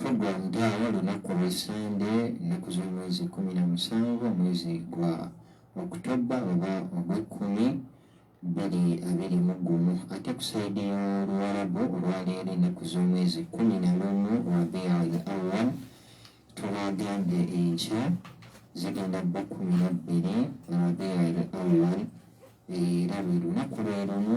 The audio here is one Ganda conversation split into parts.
Kugwanga olunaku lwa Ssande ennaku z'omwezi kkumi na musanvu omwezi gwa Okutobba oba Ogwekkumi bbiri abiri mu gumu ate ku sayidi y'Oluwarabu olwaleero ennaku z'omwezi kkumi na lumu Rabiul Awwal tubagambye enkya zigenda bba kkumi na bbiri Rabiul Awwal era lwe lunaku lwe lumu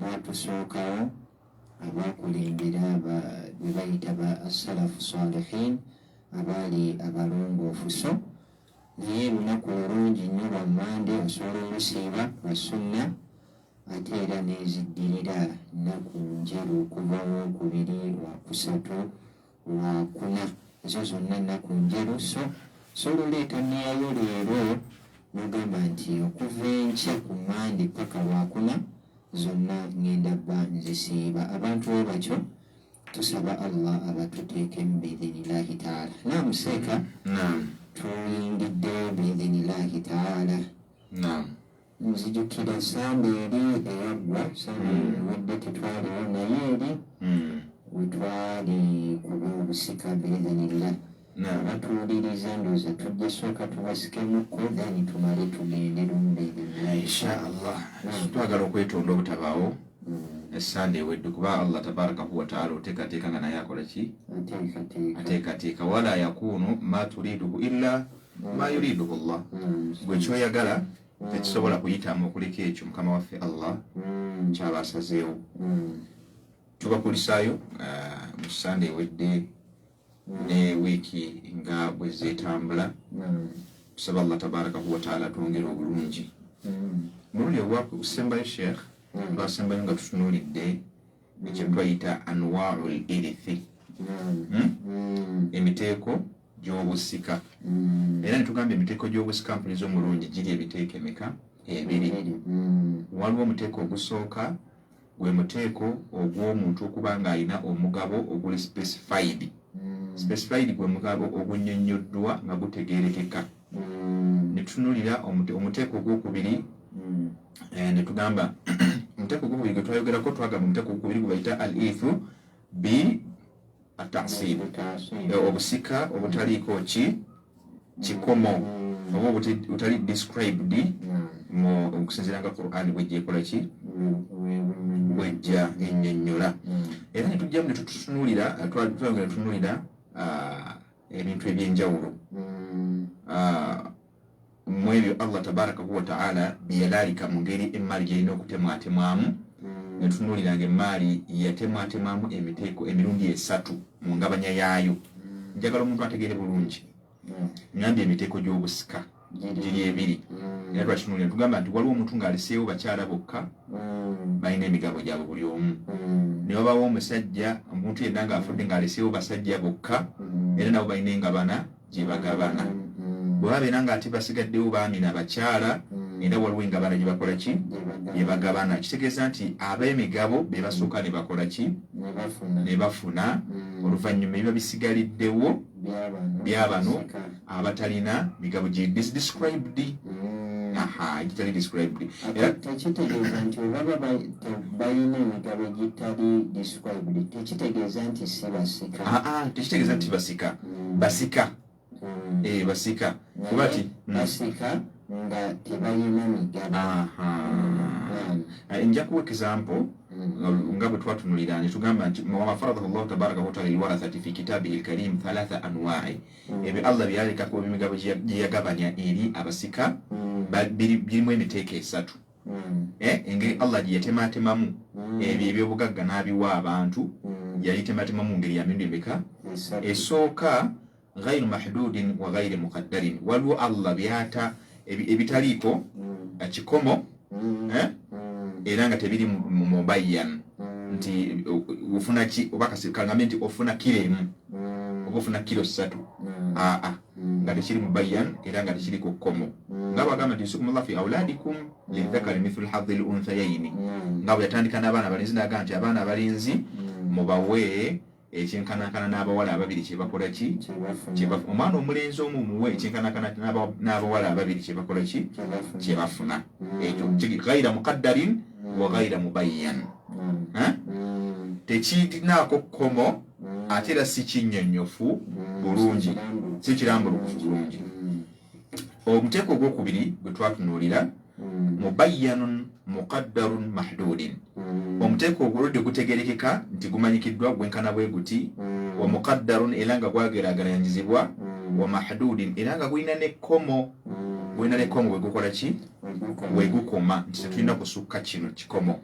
baatusookawo abaakulembera aba be bayita ba assalafu salihin abaali abalongoofu so naye lunaku lulungi nnyo lwa mande osobola olusiiba lwa sunna ate era neziddirira nnaku njeru okuva wookubiri wakusatu Lwakuna. Ezo zonna nnaku njeru, so solola ekanniya yo leero n'ogamba nti, Okuva enkya ku Mmande paka Lwakuna, zonna ngenda ba nzisiiba. Abantu bwe batyo tusaba Allah abatuteekemu biidhinillaahi taala. Naamu seeka. Naam. Tuyingidde biidhinillaahi taala. Naam. Nzijukira esande eri eyaggwa sande hmm. ewedde tetwaliwo naye eri hmm. wetwali kuba obusika beeganirira abatuwuliriza ndooza tujja sooka tubasikemukko then tumale tugende lumbeerinshallah twagala okwetonda obutabaawo hmm. esande ewedde kuba allah tabarakahu wataala oteekateeka nga naye akola ki ateekateeka wala yakuunu ma turiduhu illa ma yuridu Allah gwe kyoyagala tekisobola kuyitamu okuleka ekyo mukama waffe Allah kyaba asazeewo tubakulisaayo uh, mu sande ewedde ne wiiki nga bwe zeetambula tusaba Allah tabarakahu wataala twongere obulungi mulundi ogwakusembayo sheikh twasembayo nga tutunuulidde ekyo twayita anwaul irithi hmm? Hmm. emiteeko gy'obusika hmm. era netugamba emiteeko gy'obusika mpuliza omulungi giri ebiteeko emeka ebiri waliwo omuteeko ogusooka gwe muteeko ogw'omuntu okuba ng'alina omugabo oguli specified specified gwe mugabo ogunyonyoddwa nga gutegerekeka mm. netutunulira omuteeko ogwokubiri mm. eh, netugamba omuteeko ogwokubiri gwetwayogerako twagamba omuteeko ogwokubiri gwebayita al ithu b atasib eh, obusika obutaliiko ki kikomo mm. oba obutali described okusinzira nga quran bwejjekola ki bwejja enyonyola era netujjamu netutunulira twagera tunulira ebintu ebyenjawulo mm. ah, mu ebyo allah tabarakahu wataala byeyalaalika mu ngeri emmaali gyalina okutemwatemwamu mm. netunuulira nga emmaali yatemwatemwamu emiteeko emirundi esatu mu ngabanya yaayo mm. njagala omuntu ategeere bulungi nambye emiteeko gy'obusika mm. giri ebiri mm. era twakitunulira tugamba nti waliwo omuntu ng'aleseewo bakyala bokka mm. balina emigabo gyabwe buli omu mm. ne babawo omusajja omuntu yenna ng'afudde ng'aleseewo basajja bokka era nabo balina engabana gye bagabana bwe babeera ng'ate basigaddewo baami na bakyala era waliwo engabana gye bakola ki gye bagabana kitegeeza nti ab'emigabo be basooka ne bakola ki ne bafuna oluvannyuma ebiba bisigaliddewo byabano abatalina migabo gye described mm. aha egitali described era tekitegeeza nti olaba balina emigabo egitali described tekitegeeza nti si basika aa ah, ah, tekitegeeza nti basika mm. basika mm. ee eh, basika kuba ti basika nga tebalina migabo eh, nja kuwa example nga bwe twatunulira ne tugamba nti wafaradahu llahu tabaraka wataala liwarathati fi kitabihi lkarim thalatha anwai ebyo allah byeyaleka ku emigabo gye yagabanya eri abasika birimu emiteeko esatu eh, engeri allah gye yatematemamu ebyo ebyobugagga n'abiwa abantu yalitematemamu ngeri yamirundi emeka esooka ghairu mahdudin wa ghairi muqaddarin waliwo allah byata ebitaliiko kikomo mm. eh? mm. era nga tebiri mubayan mm. nti ofuna ki oba kasikangambe nti ofuna kiro emu oba ofuna kiro ssatu aa nga tekiri mubayan era nga tekiri ku kkomo nga bagamba nti yusikumullah fi auladikum lidhakari mithlu hadhi lunthayaini nga bwe yatandika n'abaana abalenzi naga nti abaana abalenzi mubawe ekyenkanankana n'abawala ababiri kyebakola ki omwana omulenzi omu muwe ekyenkanankana n'abawala ababiri kyebakola ki kyebafuna ekyo gaira muqaddarin wa gaira mubayyan tekirinaako kkomo ate era si kinnyonnyofu bulungi si kirambulukufu bulungi omuteeko ogwokubiri gwe twatunuulira hmm. mubayyanun muqaddarun mahduudin hmm. omuteeko oguludde gutegerekeka nti gumanyikiddwa gwenkana bwe guti hmm. wa muqaddarun era nga gwagerageranyizibwa wa mahduudin era nga gulina nekkomo gulina nekkomo wegukola ki wegukoma nti tetulina kusukka kino kikomo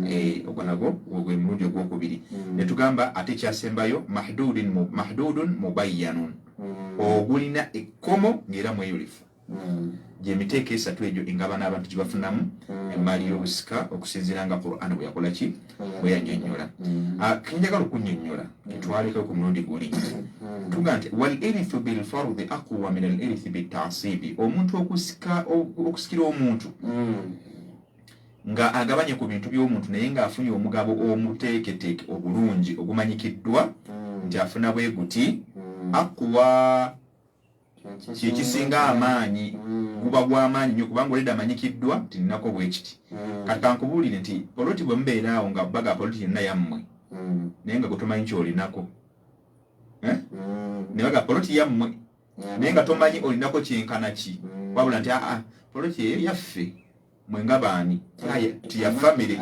eh, ogwo nagwo gwe mulundi ogwokubiri netugamba ate ekyasembayo mahduudun mubayyanun mm. ogulina ekkomo ng'era mweyulifu mm. gyemiteeko esatu egyo engabana abantu gyebafunamu mm. emaali y'obusika okusinziira nga quran bwe yakola ki bwe yanyonyola ah, kenjagala okunyonyola ketwalekeo ku mulundi guli tuga nti wal erithu bilfardi aqwa min al erithi bitasibi omuntu okusikira omuntu nga agabanye ku bintu by'omuntu naye ng'afunye omugabo omuteeketeeke obulungi ogumanyikiddwa mm. nti afuna bwe guti mm. akuwa kyekisinga amaanyi mm. guba gw'amaanyi nyo kubanga oleda amanyikiddwa nti nnako bwe kiti kati kankubuulire nti poloti bwe mubeera awo nga baga poloti yenna yammwe naye nga gwe tomanyi kyolinako eh? naye baga poloti yammwe mm. naye nga tomanyi olinako kyenkana ki mm. wabula nti aa poloti eyo yaffe mwe nga baani tiya famire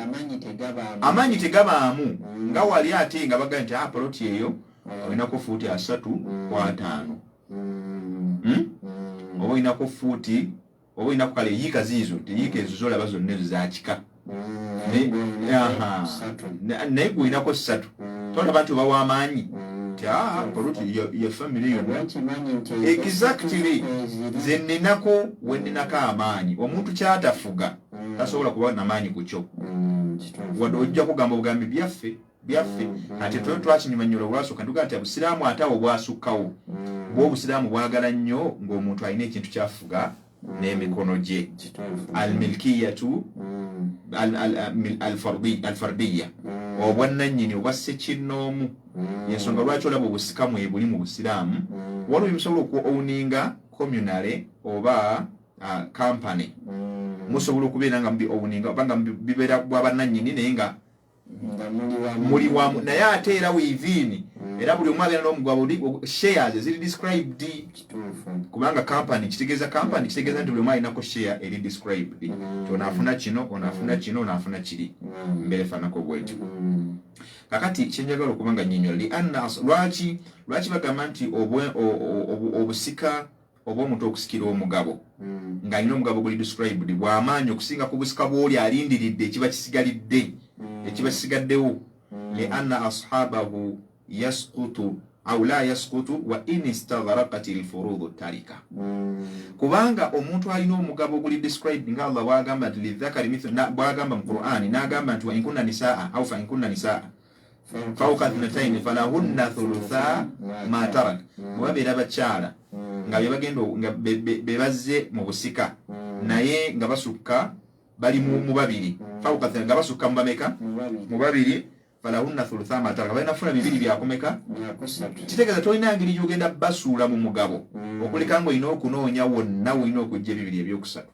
amaanyi tegabaamu mm. nga wali ate nga baga nti aa poloti eyo olinako fuuti asatu kwataano hmm? oba olinako fuuti oba olinaku kale yiika ziizo teyiika ezo zolaba zonna ezo zakika naye gweolinako ssatu tolaba nti oba wamaanyi exactly nze ninako weninako amaanyi omuntu kyatafuga tasobola kuba namaanyi kukyo wadde ojja kugamba obugambi byaffe byaffe mm. ate twe twakinyumanyola olwasooka ntugaa nti obusiraamu ate awo bwasukkawo mm. bw obusiraamu bwagala nnyo ng'omuntu alina ekintu kyafuga mm. n'emikono gye almilkiyatu alfardiya obwannannyini obwa ssekinnoomu yensonga lwaki olaba obusika mwebuli mu busiraamu waliwo bimusobola oku owninga communale oba kampany musobola okubeera nga mubi owninga oba nga bibeera bwa bannannyini naye nga muli wamu naye ate era within mm. era buli omu abeera n'omugwabo shares eziri described kubanga company kitegeeza company mm. kitegeeza nti buli omu alinako share eri described mm. ti onaafuna kino onaafuna kino onaafuna kiri mbeera efaanako bwetyo kakati kyenjagala okuba nga nyinyol lianna lwaki lwaki bagamba nti obusika oba omuntu okusikira omugabo mm. ng'alina omugabo guli described bw'amaanyi okusinga ku busika bw'oli alindiridde ekiba kisigalidde mm. ekiba kisigaddewo mm. li anna ashabahu yaskutu au la yaskutu wa in istagharaqat alfurudhu tarika mm. kubanga omuntu alina omugabo guli described nga Allah wagamba nti lidhakari mithlu na bwagamba mu Qur'an nagamba nti wa in kunna nisaa au fa in kunna nisaa fauka thnataini falahunna thulutha matarak bwebabeera bakyala nga bebagenda nga bebazze mu busika naye nga basukka bali mu babiri fauka nga basukka mu bameka mu babiri falahunna thulutha matarak balina funa bibiri byakumeka kitegeeza tolina ngeri gyogenda basuula mu mugabo okuleka nga olina okunoonya wonna olina okujja ebibiri ebyokusatu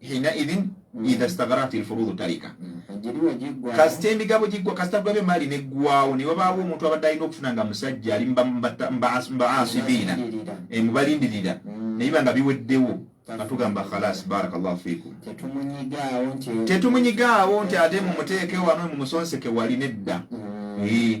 hinaidhin mm. idha stagharat alfurudu tarika kasita emigabo giggwa kasita gwabe maali neggwawo ne wabaawo omuntu abadde alina okufuna nga musajja ali mbaasibiina eh, mubalindirira mm. naye banga biweddewo atugamba khalas barakallahu fikum tetumunyigawo nti ate mumuteeke wano mumusonseke wali nedda mm. eh.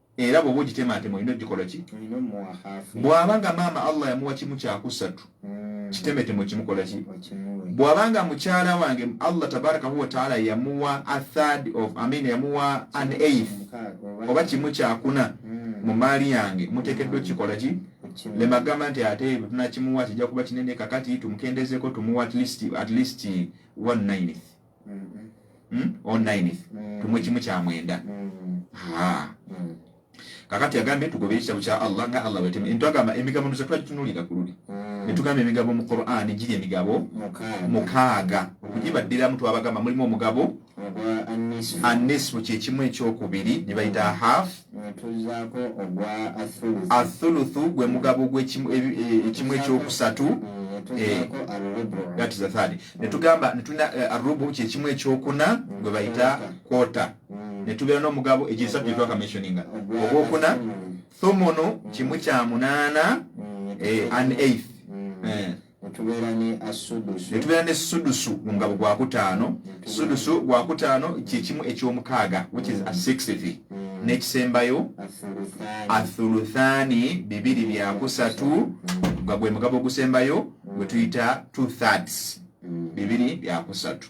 era bwoba ogitemaatema olina ogikola ki bw'aba nga maama allah yamuwa kimu kyakusatu mm. kitemetemo kimukola ki bw'aba nga mukyala wange allah tabaraka huwa taala yamuwa a third of amin yamuwa an eighth oba kimu kyakuna mm. mu maali yange muteekeddwa okukikola ki lemagamba nti ate tunakimuwa kijja kuba kinene kakati tumukendezeko tumuwa at least one nineth hmm? online tumu kimu kyamwenda kakati agambye tugobe ekitabo kya allah nga allah wetema entwagamba emigabo nuza twali tunulira ku luli mm. netugamba emigabo mu quran giri emigabo mukaaga okugibaddiramu twabagamba mulimu omugabo annisfu kyekimu ekyokubiri nebayita half athuluthu gwe mugabo gwekimu e, e, ekyokusatu eh, netugamba netulina eh, arubu kyekimu ekyokuna gwe bayita kwota hmm. netubeera n'omugabo egisatu gyetwakamensioninga ogwokuna thomono kimu kya munaana hmm. eh, an eighth hmm. netubeera ne sudusu nga gwakutaano sudusu gwakutaano kyekimu ekyomukaaga which is a sixth mm. nekisembayo athuluthani bibiri byakusatu nga gwe mugabo ogusembayo gwetuyita two thirds mm. bibiri byakusatu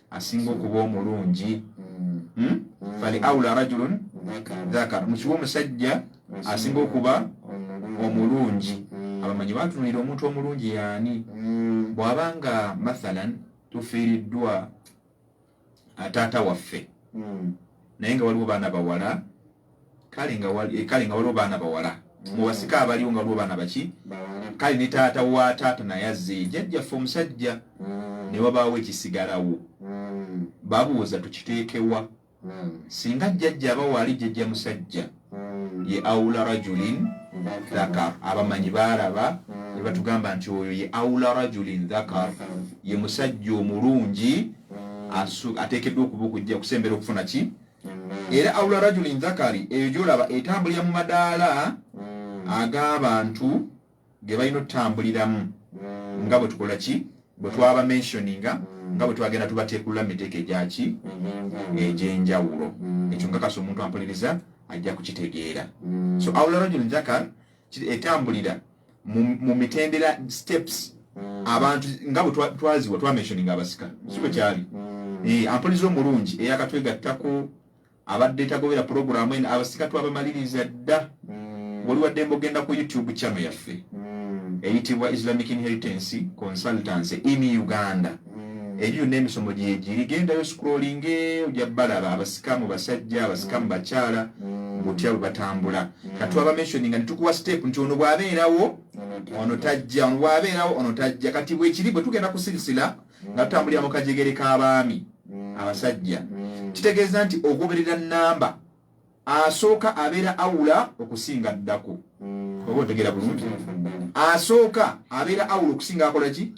asinga okuba omulungi hmm? fali aula rajulun dhakar mukiwa omusajja asinga okuba omulungi abamanyi batunulira omuntu omulungi yaani bwaba nga mathalan tufiiriddwa taata waffe naye nga waliwo baana bawala kale nga eh, kale nga waliwo baana bawala mubasika mm. abaliwo nga waliwo baana baki kale ne taata wa taata naye azzeyo jajjaffe omusajja mm. ne wabaawo ekisigalawo mm. babuuza tukiteekewa singa jjajja aba waali jjajja musajja ye aula rajulin dhakar abamanyi baalaba ne batugamba nti oyo ye aula rajulin dhakar ye musajja omulungi ateekeddwa okuba okujja kusembera okufuna ki era aula rajuli nzakari eyo gyolaba etambulira mu madaala mm. ag'abantu ge balina otutambuliramu mm. nga bwe tukola ki bwe twaba mentioninga mm. nga bwe twagenda tubateekulula mu miteeko egyaki egy'enjawulo ekyo nkakasa omuntu ampuliriza ajja kukitegeera so aula rajuli nzakar etambulira mu mitendera steps mm. abantu nga bwe twaziwa twamentioning abasika si bwe kyali mm. eh, ampuliza omulungi eyakatwegattako abadde tagobera pulogulaamu eno abasika twabamaliriza dda mm. wali wadde mbogenda ku youtube channel yaffe eyitibwa islamic inheritance consultancy in uganda mm. eri yonna emisomo gyegiri gendayo scrollinge ojja balaba abasikamu basajja abasikamu mm. bakyala mm. butya bwe batambula katwaba mentioning nga netukuwa step nti ono bwabeerawo ono tajja ono bwabeerawo ono tajja kati bwekiri bwe tugenda kusirisira nga tutambulira mu kajegere k'abaami abasajja kitegeeza nti ogoberera namba asooka abeera awula okusinga addako hmm. oba otegera bulungi asooka abeera awula okusinga akola ki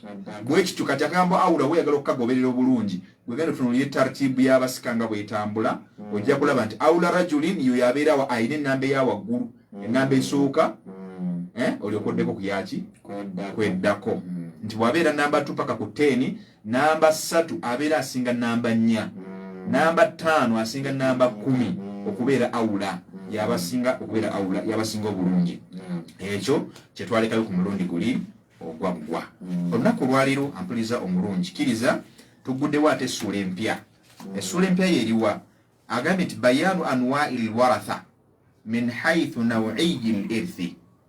bwekityo kati akagambo awula weyagala okukagoberera obulungi wegenda otunulire tartibu yabasika nga bwetambula hmm. ojja kulaba nti awula rajulin yo yabeerawo alina enamba eyawaggulu hmm. enamba esooka eh, olyokoddeko kuyaki kweddako nti bwabeera namba tu paka ku teni Namba ssatu abeera asinga namba nnya. Hmm. Namba ttaano asinga namba kkumi hmm. okubeera awula hmm. yabasinga okubeera awula yabasinga obulungi. Ekyo kye twalekayo ku mulundi guli ogwaggwa. Olunaku olwaliro ampuliza omulungi kiriza tuguddewo ate essuula empya. Essuula empya yeriwa agambye nti bayaanu anwairi lwaratha min haithu nawiyi lirthi.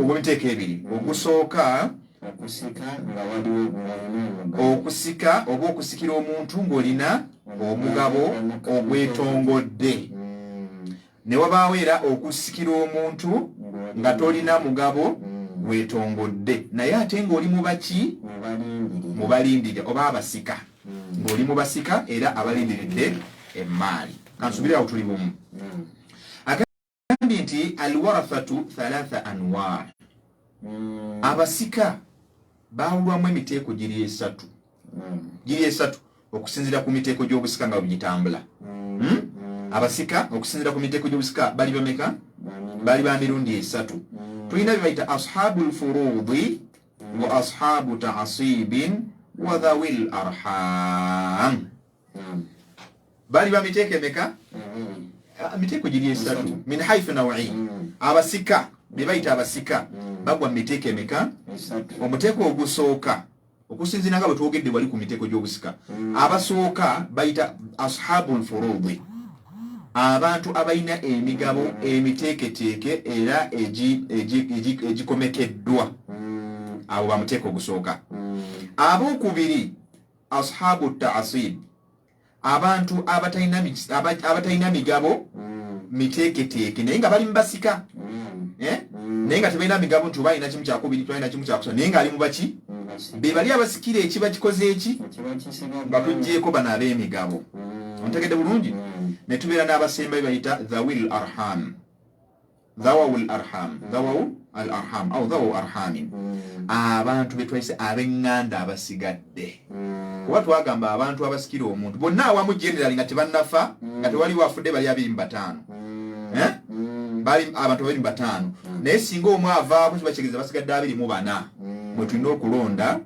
ogw'emiteeko ebiri ogusooka okusika oba okusikira omuntu ng'olina omugabo ogwetongodde ne wabaawo era okusikira omuntu nga tolina mugabo gwetongodde naye ate ng'oli mubaki mu balindire oba abasika ng'oli mu basika era abalindiridde emmaali kansubirirawo tuli bumu agambye nti alwarathatu thalatha anwar hmm. abasika bawulwamu emiteeko giri esatu hmm. giri esatu okusinzira ku miteeko gy'obusika nga bwegitambula hmm. hmm? abasika okusinzira ku miteeko gy'obusika bali bameka bali ba mirundi esatu tulina byebayita ashabu lfurudi wa ashabu taasibin wa dhawi larham mm. bali ba miteeko emeka mm. ah, miteeko giri esatu min haithu nawi mm. abasika be bayita abasika mm. bagwa mu miteeko emeka omuteeko ogusooka okusinzira nga bwe twogedde wali ku miteeko gy'obusika mm. abasooka bayita ashabu lfurudi abantu abalina emigabo emiteeketeeke era egikomekeddwa mm. abo bamuteeka ogusooka mm. abokubiri ashabu taasib abantu abatalina migabo hmm. miteeketeeke naye nga bali mubasika hmm. eh? hmm. naye nga tebalina migabo nti oba alina kimu kyakubiri tbalina kimu kyakusatu naye nga ali mubaki bebali abasikira ekiba kikoze eki batugyeko bano ab'emigabo ontegedde bulungi netubeera n'abasembayo bayita the will arham dhawawu al arham dhawawu al arham au dhawawu arhamin abantu betwayise abenganda abasigadde kuba twagamba abantu abasikira omuntu bonna awamu generali nga tebanafa nga tewaliwo afudde bali abiri mu bataano eh? bali abantu babiri mu bataano naye singa omu avaaku kiba kigeza basigadde abiri mu bana mwetulina okulonda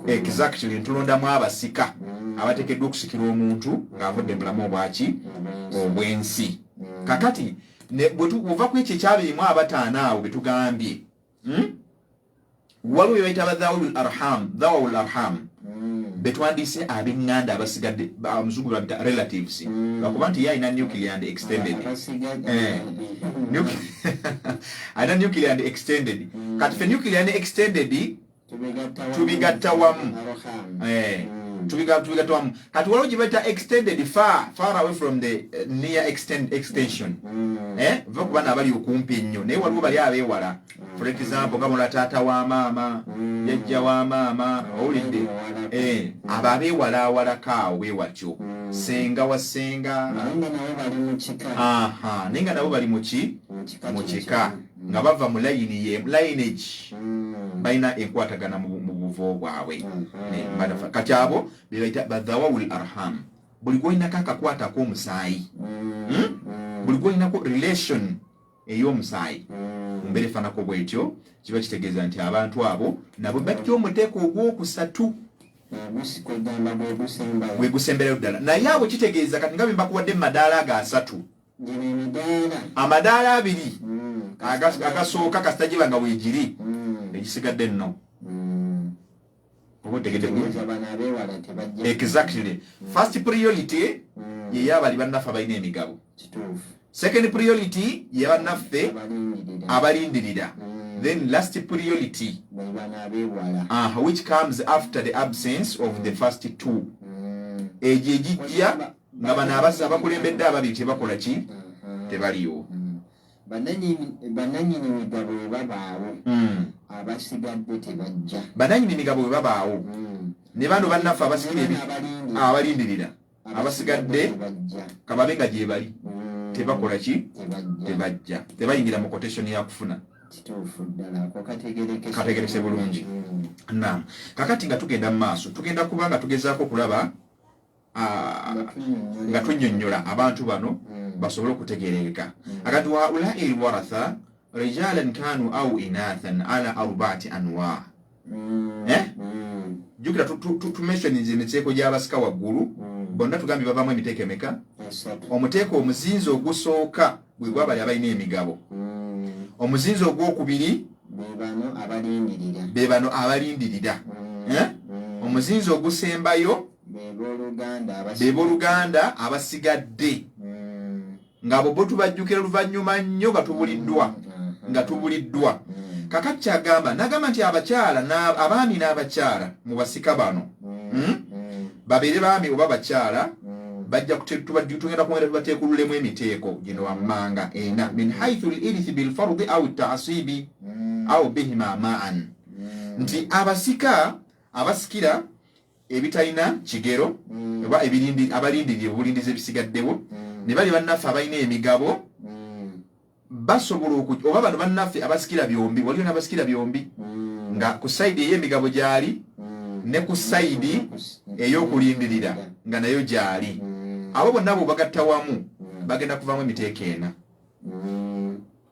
exactly ntulondamu abasika mm. abatekeddwa okusikira omuntu ng'avudde mulamu obwaki obwensi mm. kakati bwetuva ku ekyo ekyabirimu abataano awo betugambye hmm? waliwo bebayita badhawul arham dhawul arham hmm. betwandiise abenganda abasigadde omuzungu babita relatives hmm. bakuba nti ye alina nuclear and extended eh. alina nuclear ndi extended mm. kati fe nuclear ne extended tubigatta wamu eh, mm. tubigatta wamu kati waliwo gyebaita extended far far away from the eh, near extend extension mm. eh, va ku bana abali okumpi ennyo naye waliwo bali abewala for example gamola taata wa maama yajja wa maama owulidde abo abewala awalakaawo bewatyo senga wa senga naye nga nabo bali muki mu kika nga bava mu layini ye lineage mm. balina enkwatagana mu buvo bwabwe mm-hmm. kati abo bebaita badhawawul arham buli gwolinako akakwatako omusaayi mm. hmm? mm. buli gwolinako relation ey'omusaayi mu mbeera efaanako bwetyo kiba kitegeeza nti abantu abo nabo bajja omuteeko ogwokusatu wegusemberayo ddala naye abo kitegeeza kati nga bembakuwadde mu madaala ago asatu amadaala abiri mm, agasooka kasita giba nga weegiri mm. egisigadde nno mm. exactly first priority yeyo abali bannaffe abalina emigabo second priority ye bannaffe abalindirira then last priority uh, which comes after the absence of the first two egyo egijja nga bano abasa abakulembedde ababiri tebakola ki mm-hmm. tebaliwo mm-hmm. bananyini migabo webabaawo mm. abasigadde tebajja bananyini migabo webabaawo mm. ne bano bannaffe abasikira abalindirira abasigadde kababe nga gyebali mm. tebakola ki tebajja tebayingira mu kotesoni yakufuna kategerekese bulungi nam kakati nga tugenda mu maaso tugenda kuba nga tugezaako okulaba nga tunyonyola abantu bano hmm. basobole okutegereeka hmm. agati waulai lwaratha rijalan kanu au inathan ala arbaati anwa hmm. eh? jukira tumesoniza emiteeko gyabasika waggulu bonna tugambye bavamu emiteeko emeka omuteeko omuzinzi ogusooka bwe gwabali abalina emigabo omuzinzi ogwokubiri be bano abalindirira eh? omuzinzi ogusembayo beboluganda abasigadde mm. ngabo bo tubajjukira luvannyuma nnyo nga tubuliddwa mm, mm, nga tubuliddwa kakati kyagamba nagamba nti abakyala abaami n'abakyala mu basika bano hmm? babeere baami oba bakyala bajja tugenda kwongera tubateekululemu emiteeko gino wammanga ena min haithu lirith bilfardi au taasibi au bihima maan nti abasika abasikira ebitalina kigero mm. oba ebirindi abalindirire obulindizi ebisigaddewo mm. ne bali bannaffe abalina emigabo mm. basobola oba bano bannaffe abasikira byombi waliyo n'abasikira byombi nga ku sayidi ey'emigabo gyali ne ku sayidi ey'okulindirira nga nayo gyali abo bonna bo bagatta wamu bagenda kuvaamu emiteeko ena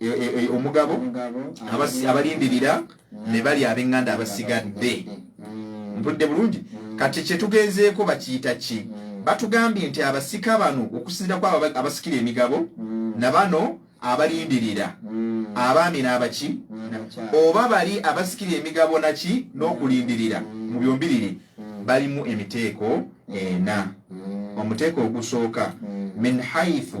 e, e, e, omugabo abalindirira ne bali ab'eŋŋanda abasigadde mpudde bulungi kati kye tugenzeeko bakiyita ki batugambye nti abasika bano okusinzirako abasikira emigabo na bano abalindirira abaami n'abaki oba bali abasikira emigabo naki n'okulindirira mu byombiriri balimu emiteeko ena omuteeko ogusooka min haithu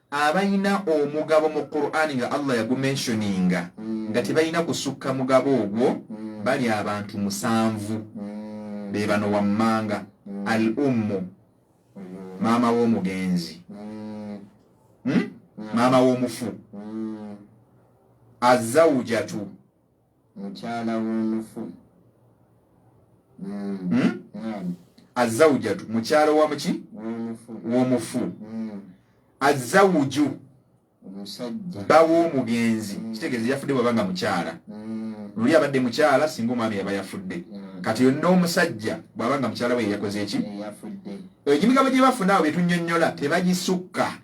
abalina omugabo mu Qur'an nga Allah yagumentioninga mm. nga tebalina kusukka mugabo ogwo mm. bali abantu musanvu mm. be bano wammanga mm. al ummu mm. maama w'omugenzi mm. hmm? mm. maama w'omufu mm. azawujatu mukyala w'omufu hmm. Hmm? azawujatu mukyala wamuki w'omufu hmm. azawuju bawa omugenzi kitegeeza yafudde bwaba nga mukyala luli abadde mukyala singa omwami yaba yafudde kati yonna omusajja bwaba nga mukyala we yeyakoze eki egibigambo gye bafuna awo betunyonyola tebagisukka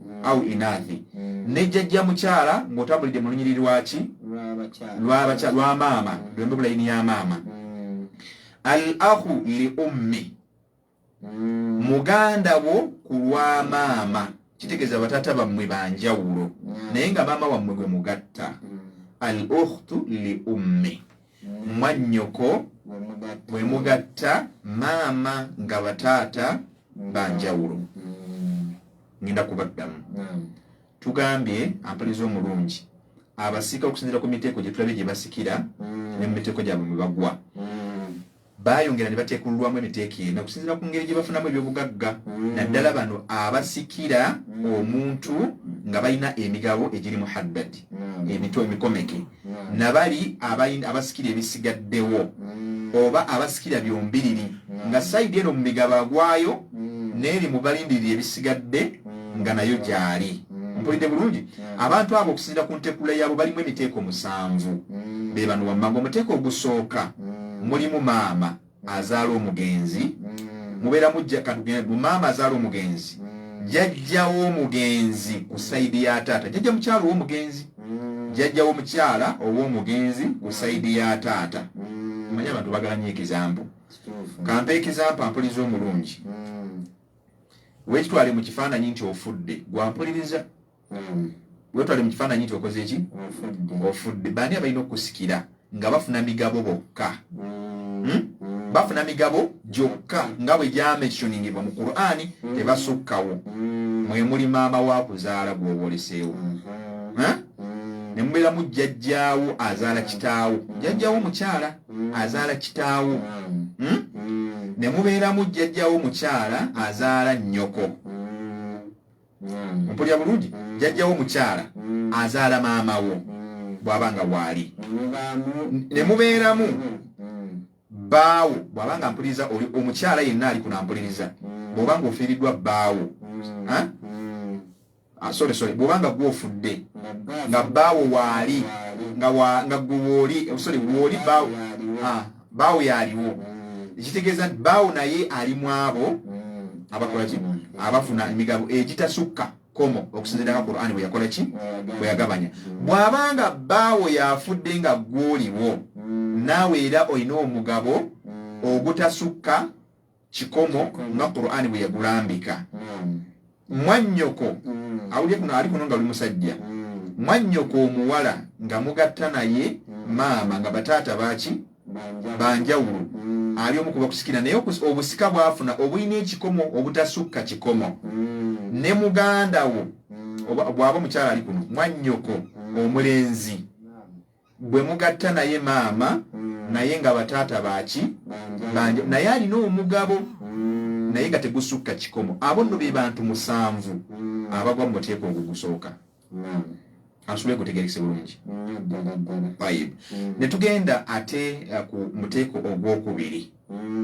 au inathi ne jjajja mukyala ng'otambulidde mu lunyiriri lwaki lwa maama lwembe bulayini ya maama al ahu li ummi muganda wo ku lwa maama kitegeeza bataata bammwe banjawulo naye nga maama wammwe gwe mugatta al uhtu li ummi mwannyoko bwe mugatta maama nga bataata banjawulo ngenda kubaddamu tugambye ampaliza omulungi abasika okusinzira ku miteeko gye tulabye gye basikira mm. ne mu miteeko gyabwe mwe bagwa mm. bayongera ne bateekululwamu emiteeko ena okusinzira ku ngeri gye bafunamu ebyobugagga mm. naddala bano abasikira omuntu nga balina emigabo egiri mu haddadi emito emikomeke mm. na bali abasikira ebisigaddewo mm. oba abasikira byombiriri mm. nga sayidi eno mu migabo agwayo n'eri mu balindirira ebisigadde nga nayo gyali mpulidde bulungi abantu abo okusinzira ku ntekula yaabo balimu emiteeko musanvu be bano wammanga omuteeko ogusooka mulimu maama azaala omugenzi mm. mubeera mujja katugenda bu maama azaala omugenzi mm. jajjawo omugenzi ku saidi ya taata jajja mukyalo womugenzi jajja womukyala owomugenzi ku saidi ya taata manya abantu bagala nyo ekizambu kampa ekizampu ampuliza omulungi wekitwale mu kifaananyi nti ofudde gwampuliriza mm. wetwale mu kifaananyi nti okoze ki ofudde baani abalina okusikira nga bafuna migabo bokka mm. hmm? mm. bafuna migabo gyokka nga bwe gyamensioningibwa mu qurani mm. tebasukkawo mwe muli maama wa kuzaala gwoboleseewo mm-hmm. ne mubeera mu jjajjaawo azaala kitaawo jjajjaawo mukyala azaala kitaawo hmm? ne mubeeramu jjajjaawo mukyala azaala nnyoko mm. mpulira bulungi mm. jajjawo mukyala mm. azaala maama wo mm. bwaba nga waali ne mubeeramu mm. baawo bwaba nga mpuliriza oli omukyala yenna ali kunampuliriza mm. bwoba nga ofiiriddwa baawo mm. mm. ah, sorry sorry bwoba nga gwe ofudde nga baawo waali nga gwe wooli eh, sorry wooli baawo baawo yaaliwo mm. ekitegeeza nti baawo naye ali mu abo mm. abakola ki mm. abafuna emigabo egitasukka komo okusinziranga qurani bwe yakola ki bwe yagabanya bw'aba nga baawo yafudde nga gwoliwo naawe era olina omugabo ogutasukka kikomo nga qurani bwe yagulambika mwannyoko awulye kuno ali kuno nga oli musajja mwannyoko omuwala nga mugatta naye maama nga bataata baki banjawulo ali omu kubakusikira naye obusika bwafuna obulina ekikomo obutasukka kikomo ne muganda wo bwaba omukyala ali kuno mwannyoko omulenzi gwe mugatta naye maama mm. naye nga bataata baki banja naye alina omugabo mm. naye nga tegusukka kikomo abo nno be bantu musanvu mm. abagwa mu muteeko ogugusooka asubire gutegerekese bulungi ne tugenda ate uh, ku muteeko ogwokubiri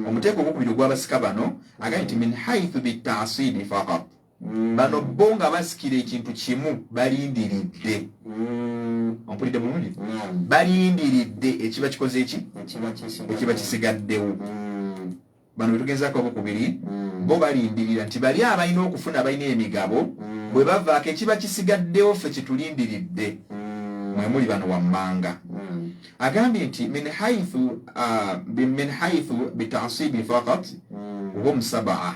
omuteeko ogwokubiri ogwabasika bano agaa nti min haithu bitaasidi fakat Mm. bano bo nga basikira ekintu kimu balindiridde mm. ompulidde bulungi mm. balindiridde ekiba kikoze eki ekiba kisigaddewo bano betugezaako obukubiri bo balindirira nti bali abalina okufuna balina emigabo bwe bavaako ekiba kisigaddewo ffe kitulindiridde mwe muli bano wammanga agambye nti min haithu uh, min haithu bitasibi fakat hum sabaa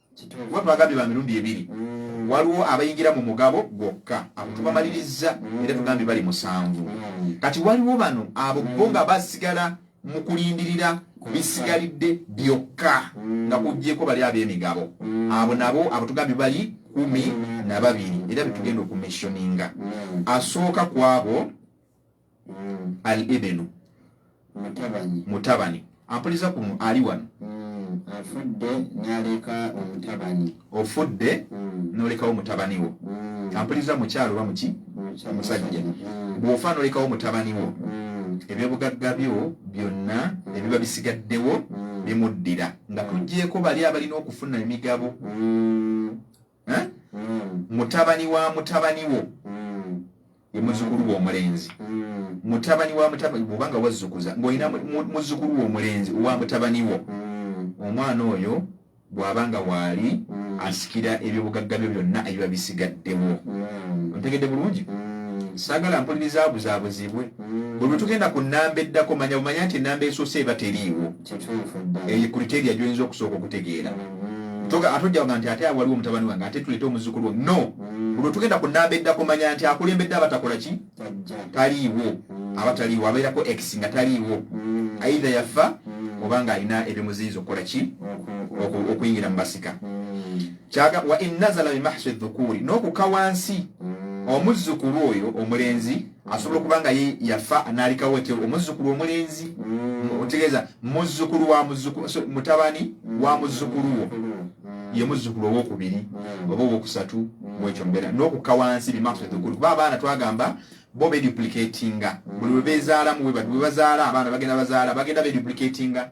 kuba twagambye ba mirundi ebiri mm. waliwo abayingira mu mugabo gwokka abo mm. tubamalirizza mm. era tugambye bali musanvu kati waliwo bano abo bo nga basigala mu kulindirira bisigalidde byokka nga kugyeko bali ab'emigabo abo nabo abo tugambye bali kumi na babiri era betugenda okumissioninga asooka kwabo mm. al ibinu mutabani mutabani ampuliza ku ali wano mm. afudde naleka omutabani ofudde mm. nolekawo mutabani wo mm. ampuliza mukyalo oba muki omusajja mm. bwofa nolekawo mutabani wo mm. ebyobugagga byo byonna mm. ebiba bisigaddewo mm. bimuddira nga mm. tugyeko bali abalina okufuna emigabo mm. eh? mm. mutabani wa mutabani wo mm. ye muzukulu wo omulenzi mm. mutabani wa mutabani bubanga wazukuza ngolina muzukulu wo omulenzi owa mutabani wo mm. omwana oyo bwabanga waali mm. asikira ebyobugagga byo byonna ebiba bisigaddewo mm. ontegedde bulungi mm. sagala mpuliriza abuzabuzibwe mm. bwe tugenda ku nnamba eddako manya bumanya nti ennamba esoose eba teriiwo eyo criteria gyoyinza okusooka okutegeera mm-hmm. atojjaga nti ate waliwo omutabani wange ate tuleete omuzukulu no mm-hmm. olwo tugenda ku namba edda kumanya nti akulembedde abatakola ki taliiwo mm-hmm. aba taliiwo abeerako ex nga taliiwo aidha yafa oba nga alina ebimuziyiza okukola ki okuyingira mu basika wa innazala bimahsi dhukuuri n'okuka wansi omuzzukulu oyo omulenzi asobola okuba nga ye yafa anaalikawo ekyo omuzzukulu omulenzi mm. otegeeza muzzukulu wa muzzukulu mutabani wa muzzukulu wo mm. ye muzzukulu owokubiri mm. oba owokusatu mwekyo mbeera n'okukka wansi bimaksudukulu kuba abaana twagamba bo beduplicatinga buli webezaalamu webazaala abaana bagenda bazaala bagenda beduplicatinga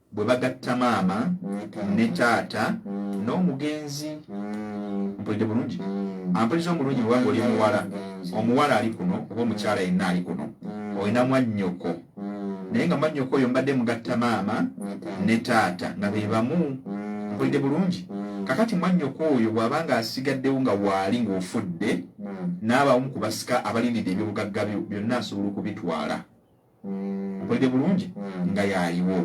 bwe bagatta maama ne taata n'omugenzi mpulidde bulungi ampuliza omulungi bwebanga oli muwala omuwala ali kuno oba omukyala yenna ali kuno olina mwannyoko naye nga mwannyoko oyo mbadde mugatta maama ne taata nga be bamu mpulidde bulungi kakati mwannyoko oyo bw'aba nga asigaddewo nga waali ng'ofudde n'abaomu ku basika abalindidde ebyobugagga byo byonna asobola okubitwala okulide bulungi nga yaliwo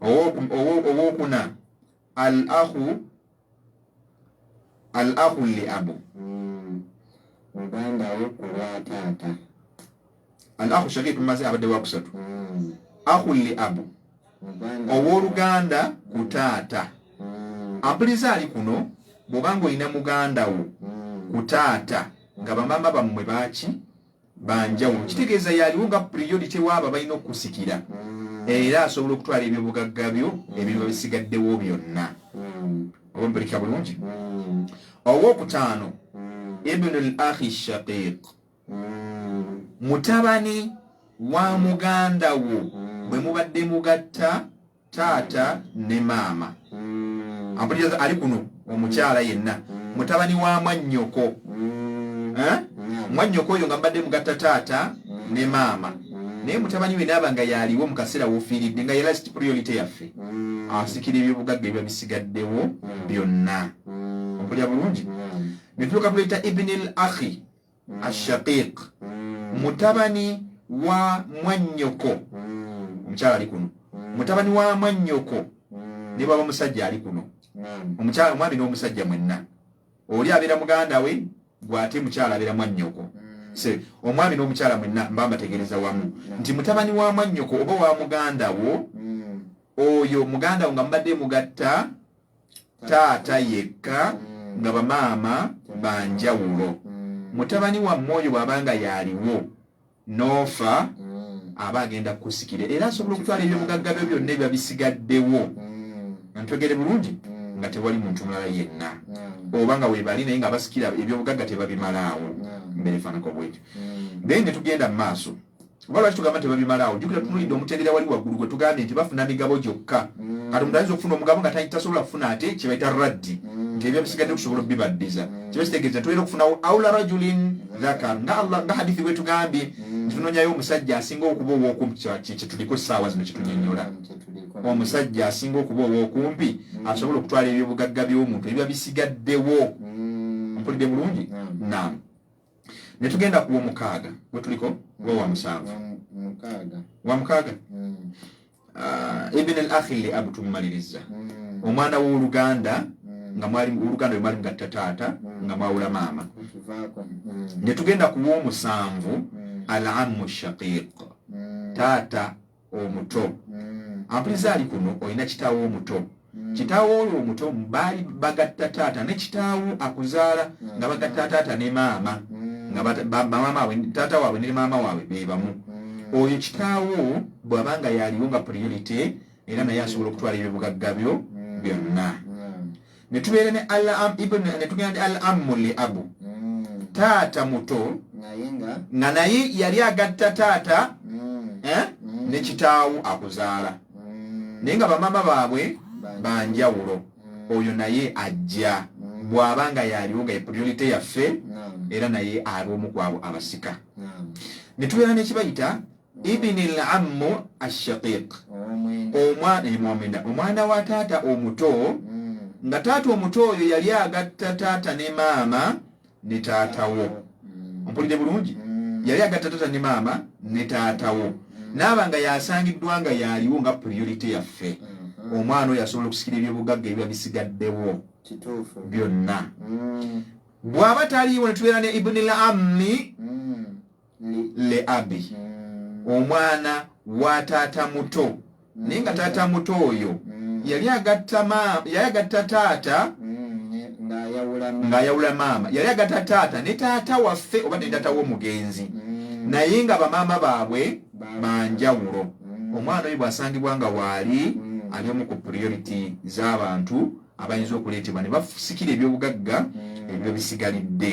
owokuna al ahu al ahu li abu muganda wo kulwa taata al ahu shakiku maze abadde wakusatu ahu li abu owoluganda ku taata ampuliza ali kuno bwobanga olina muganda wo ku taata nga bamama bammwe baki banjawulo mm. kitegeeza yaliwo nga priority waabo balina okukusikira mm. era asobola okutwala ebyobugagga byo mm. ebintu bisigaddewo byonna oba mpulika bulungi owokutaano ibnu l ahi shaqiq mutabani wa muganda wo bwe mubadde mugatta taata ne maama mm. ampuliriza ali kuno omukyala mm. yenna mm. mutabani wa mwannyoko mm. eh? mm. mwannyoko oyo nga mbadde mugatta taata mm. ne maama mm. naye mutabani we naaba nga yaaliwo mu kaseera wofiiridde nga yelast priority yaffe mm. asikira ebyobugagga ebiba bisigaddewo mm. byonna mm. ompulira bulungi mm. netuuka kuleeta ibnil akhi ashaqiq mutabani wa mwannyoko omukyala ali kuno mutabani wa mwannyoko ne bwaba musajja ali kuno omukyala omwami n'omusajja mwenna oli abeera muganda we gwate mukyala abeera mwannyoko se omwami n'omukyala mwenna mba mbategereza wamu nti mutabani wa mwannyoko oba wa muganda wo mm. oyo muganda wo nga mubadde mugatta taata yekka nga bamaama ba njawulo mutabani wammwe oyo bw'aba nga yaaliwo n'ofa aba agenda kukusikira era asobola okutwala ebyobugagga byo byonna ebiba bisigaddewo ntwegere bulungi nga tewali muntu mulala yenna oba nga webali naye nga basikira ebyobugagga tebabimalaawo mberefaanako bwekyo naye ne tugenda mu maaso oba lwaki tugamba tebabimalaawo jukira tunulidde omutendera wali waggulu gwe tugambye nti bafuna migabo gyokka mm. kati omuntu ayinza okufuna omugabo nga tasobola kufuna ate kyebaita raddi mm. nti ebyabisigadde okusobola okubibaddiza mm. kiba kitegeeza nti olina okufunawo aula rajulin dhakar nga allah nga hadithi bwe tugambye nti tunonyayo omusajja asinga okuba ow'okumpi kyetuliko essaawa zino kyetunyonyola omusajja asinga okuba ow'okumpi asobola okutwala ebyobugagga by'omuntu ebiba bisigaddewo mpulidde bulungi naamu ne tugenda ku w'omukaaga we tuliko gwe wa musanvu wa mukaaga mm. ah, ibn al akhi li abu tumumaliriza mm. omwana w'oluganda mm. nga mwali oluganda lwe mwali mugatta taata nga mwawula maama ne tugenda ku w'omusanvu al amu shaqiq taata omuto mm. ampuliza ali kuno olina kitaawo omuto mm. kitaawo oyo omuto baali bagatta taata ne kitaawo akuzaala mm. nga bagatta taata ne maama nga maama waabwe taata waabwe ne maama waabwe be bamu oyo kitaawo bw'aba nga yaaliwo nga priority era naye asobola okutwala ebyobugagga byo byonna ne tubeera ne alam ibn ne tugenda ne alamu li abu mm. taata muto nga naye yali agatta taata mm. eh, mm. ne kitaawo akuzaala naye nga bamama baabwe banjawulo oyo naye ajja bw'aba nga yaliwo nga epuriyonite yaffe era naye ab'omu kwabo abasika ne tubeera nekibayita ibini l ammu ashaqiq omwana omwana wa taata omuto hmm. nga taata omuto oyo yali agatta taata ne maama ne taatawo hmm. mpulidde bulungi hmm. yali agatta taata ne maama ne taatawo naaba nga yasangiddwa nga yaliwo nga priority yaffe omwana oyo asobola okusikira ebyobugagga ebiba bisigaddewo byonna bwaba taliiwo netubeera ne ibuni l ammi le abi mm. omwana wa taata muto mm. naye nga taata muto oyo mm. yali agatta taata ng'ayawula maama yali agatta taata ne taata waffe oba ne taata w'omugenzi naye nga bamaama baabwe banjawulo omwana oyo bw'asangibwa nga waali ali omu ku priority z'abantu abayinza okuleetebwa ne basikira ebyobugagga ebyo bisigalidde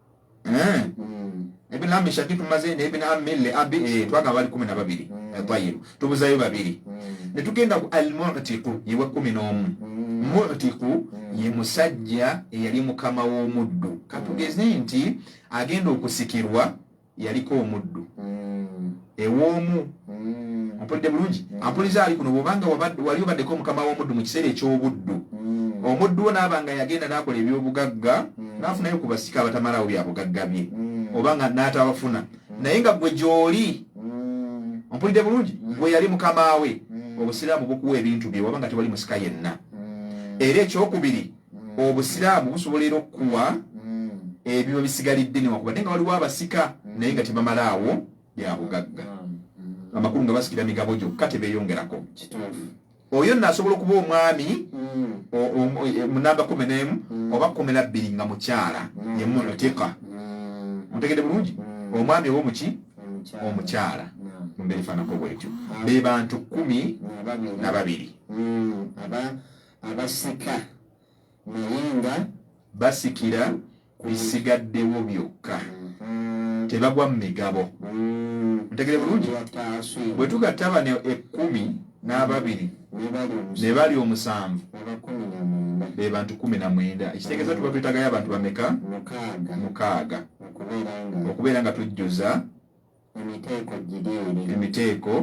eh mm. ibn ammi shakitu maze ne ibn ammi li abi eh twaga bali 12 mm. tayib tubuzayo babiri mm. ne tugenda ku al mu'tiqu yewa 11 mm. mu'tiqu mm. ye musajja eyali mukama wo muddu katugeze nti agenda okusikirwa yaliko omuddu mm. ew'omu mm. mpulidde bulungi mm. ampuliza ali kuno bwobanga wali obaddeko omukama w'omuddu mu kiseera eky'obuddu mm. omuddu wo naaba nga yagenda n'akola eby'obugagga n'afunayo ku basika abatamalaawo bya bugagga bye oba nga n'atabafuna naye nga gwe gy'oli mpulidde bulungi gwe yali mukama we obusiraamu bukuwa ebintu bye waba nga tewali musika yenna era ekyokubiri obusiraamu busobola era okukuwa ebiba bisigalidde newakubadde nga waliwo abasika naye nga tebamalaawo bya bugagga amakulu nga basikira migabo gyokka tebeyongerako oyo nno asobola okuba omwami mm. munamba kumi nemu mm. oba kumi nabbiri nga mukyala mm. yemutika mutegede bulungi omwami oba omuki omukyala mumbeera efaanako bwetyo be bantu kumi na babiri abasika naye nga basikira bisigaddewo byokka mm-hmm. tebagwa mu migabo mm-hmm. ntegere bulungi bwe tugatta bano ekkumi n'ababiri ne bali omusanvu be bantu kumi na mwenda ekitegeeza tuba twetagayo abantu bameka mukaaga okubeera nga tujjuza emiteeko gideeri emiteeko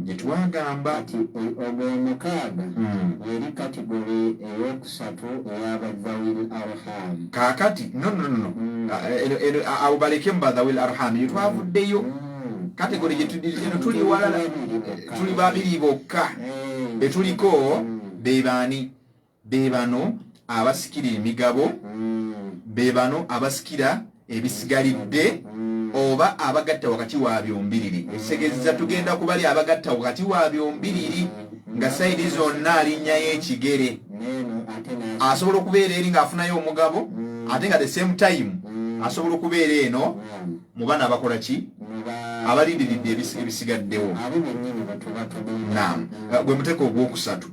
gye twagamba kati e- ogw'omukaaga Mm. yeri katigole ey'okusatu eya badhawil arham kaakati no no no Mm. Ah, eno- eno- ah, abo balekemu badhawil arham eyo twavuddeyo Mm. kategori gye tuli- eno tuli walala Tuli babiri bokka. tuli babiri bokka Eh. be tuliko Mm. be baani be bano abasikira emigabo mm. be bano abasikira ebisigalidde mm. oba abagatta wakati wa byombiriri mm. ekitegeezeza tugenda kubali abagatta wakati wa byombiriri nga sayidi zonna alinnyayo ekigere asobola okubeera eri ng'afunayo omugabo ate nga the same time asobola okubeera eno mu bana abakola ki abalindiridde ebisigaddewo gwe muteeka ogwokusatu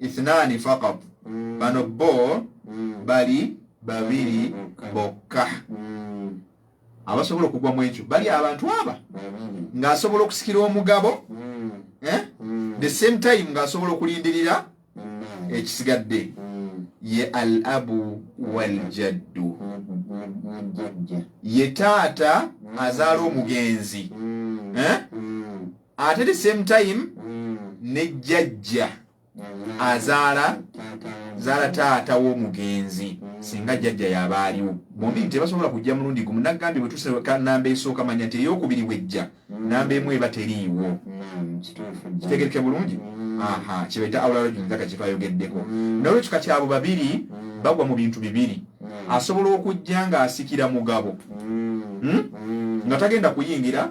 ithnani faqat Mm. bano bo Mm. bali babiri Bokka. bokka Mm. abasobola okugwa mu ekyo bali abantu aba Babiri. ng'asobola okusikira omugabo Mm. eh? Mm. the same time ng'asobola okulindirira Mm. ekisigadde Mm. ye al abu waljaddu Mm. Mm. Jajja. ye taata azaala omugenzi Mm. eh? Mm. ate the same time ne jjajja azaala zaala taata w'omugenzi singa jjajja yaba aliwo bombi nti tebasobola kujja mulundi gumu nagambye bwe tuseka namba esooka manya nti eyokubiri wejja namba emu eba teriiwo kitegereke bulungi aha kyebaita awularajunzaka kyefa ayogeddeko nolwekyo kati abo babiri bagwa mu bintu bibiri asobola okujja ng'asikira mugabo hmm? nga tagenda kuyingira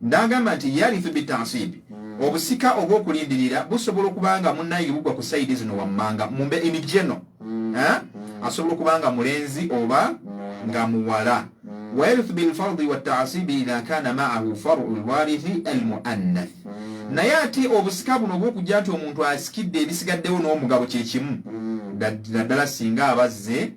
N'agamba nti, Yarithu bit-ta'sibi, hmm. Obusika obw'okulindirira busobola okuba nga munnange bugwa ku sayidi zino wammanga, mu mbe in general, hmm. eh? hmm. asobola okuba nga mulenzi oba nga muwala. Wa yarithu bil-fardi wat-ta'sibi idha kana ma'ahu far'u al-warithi al-mu'annath. Naye ate obusika buno obw'okujja nti omuntu asikidde ebisigaddewo n'omugabo kye kimu, naddala singa abazze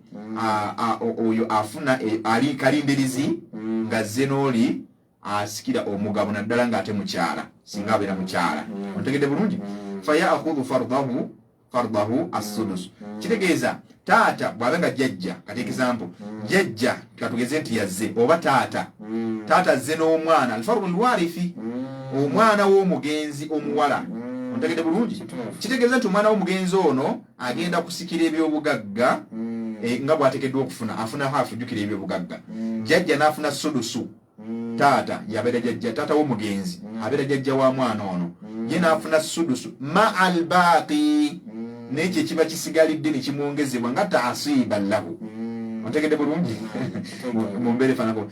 oyo afuna e, ali kalindirizi ng'azze n'oli asikira omugabo naddala nga ate mukyala singa abeera mukyala mm. otegedde bulungi mm. fayakhudhu fardahu fardahu assudusu mm. kitegeeza taata bw'abe nga jjajja kati example jjajja katugeze nti yazze oba taata taata azze n'omwana alfardu lwarifi omwana w'omugenzi omuwala otegedde bulungi kitegeeza nti omwana w'omugenzi ono agenda kusikira ebyobugagga mm. eh, nga bwatekeddwa okufuna afuna hafu jukira ebyobugagga mm. jajja nafuna sudusu mm. taata yabeera jajja taata womugenzi mm. abeera jajja wa mwana ono mm. ye nafuna sudusu ma albaaqi mm. nekyo ekiba kisigalidde nekimwongezebwa nga taasiba lahu mm. otegedde bulungi mm. mumbeera efanako